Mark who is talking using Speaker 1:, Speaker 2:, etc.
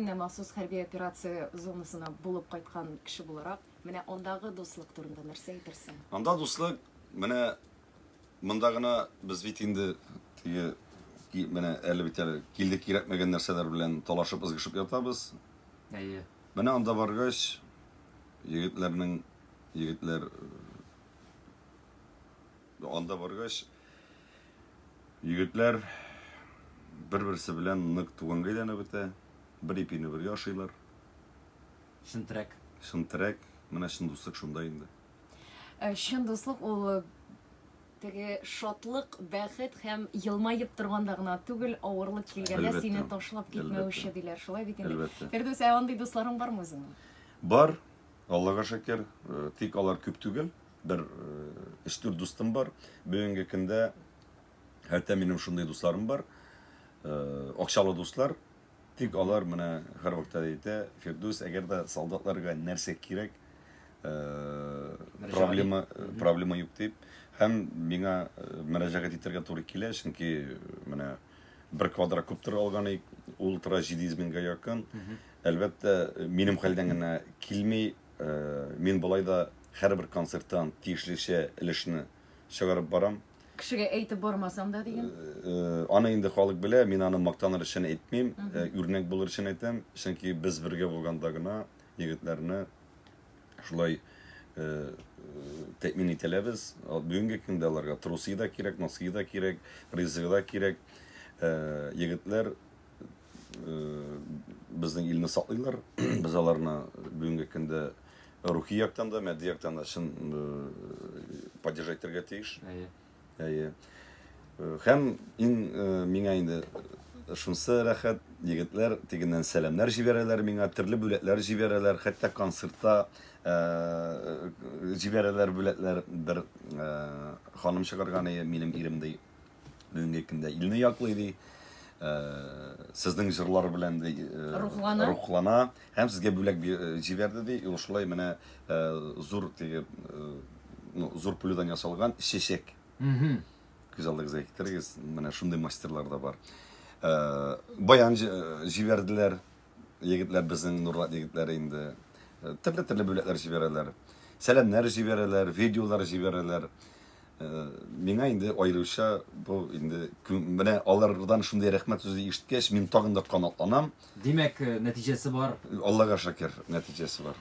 Speaker 1: Менә махсус хәрби операция зонасына булып кайткан кеше буларак, менә андагы дуслык турында нәрсә әйтерсең? Анда дуслык,
Speaker 2: менә монда гына без бит инде теге, менә әле бит әле килдек, кирәкмәгән нәрсәләр белән талашып, ызгышып ятабыз.
Speaker 3: Әйе. Менә анда
Speaker 2: баргач, егетләрнең, егетләр Анда баргач, егетләр бер-берсе белән нык туганга әйләнеп бетә. Бер ипине бергә ашыйлар. Чын терәк. Чын терәк. Менә чын дуслык шунда инде. Э, чын
Speaker 1: дуслык ул э, теге шатлык, бәхет һәм елмаеп торганда гына түгел, авырлык килгәндә сине ташлап китмәүче диләр. Шулай бит инде. Фирдүс, ә андый дусларың бармы үзеңнең? Бар.
Speaker 2: Аллага шәкер, э, тик алар күп түгел. бер өч-дүрт дустым бар. Бүгенге көндә хәтта минем шундый дусларым бар. Акчалы дуслар. Тик алар менә һәрвакытта әйтә, Фирдүс, әгәр дә солдатларга нәрсә кирәк, проблема проблема юк дип. Һәм миңа мөрәҗәгать итәргә туры килә, чөнки менә бер квадра куптер алган ик, ул тора 700 меңгә якын. Әлбәттә, минем хәлдән генә килми, Мин болай да һәрбер концерттан тиешлечә өлешне чыгарып барам. Кешегә әйтеп
Speaker 1: бармасам да дигән? Аны инде
Speaker 2: халык белә, мин аны мактаныр өчен әйтмим, үрнәк булыр өчен әйтәм, чөнки без бергә булганда гына егетләрне шулай тәэмин ителәбез. Бүгенге көндә аларга трусы да кирәк, носки да кирәк, ризыгы да кирәк. Егетләр безнең илне саклыйлар. Без аларны бүгенге көндә рухи яктан да, матди яктан да чын поддержать итәргә тиеш. Әйе. Әйе. Һәм иң миңа инде шунсы рәхәт, егетләр тегеннән сәламнәр җибәрәләр миңа, төрле бүләкләр җибәрәләр, хәтта концертта җибәрәләр бүләкләр. Бер ханым чыгарган иде, минем ирем ди. Бүгенге көндә илне яклый ди. Сезнең җырлар белән ди рухлана. Рухлана һәм сезгә бүләк җибәрде ди. Ул шулай менә зур теге ну, зур пулюдан ясалган чәчәк. Угу. Күз алдыгызга китерегез. Менә шундый мастерлар да бар. Баян җибәрделәр. егетләр безнең Нурлат егетләре инде э, төрле-төрле бүләкләр җибәрәләр. Сәламнәр җибәрәләр, видеолар җибәрәләр. Э, миңа инде аеруча бу инде менә алардан шундый рәхмәт сүзе ишеткәч, мин тагын да канатланам.
Speaker 3: Димәк, э,
Speaker 2: нәтиҗәсе бар. Аллага шакир,
Speaker 3: нәтиҗәсе
Speaker 2: бар.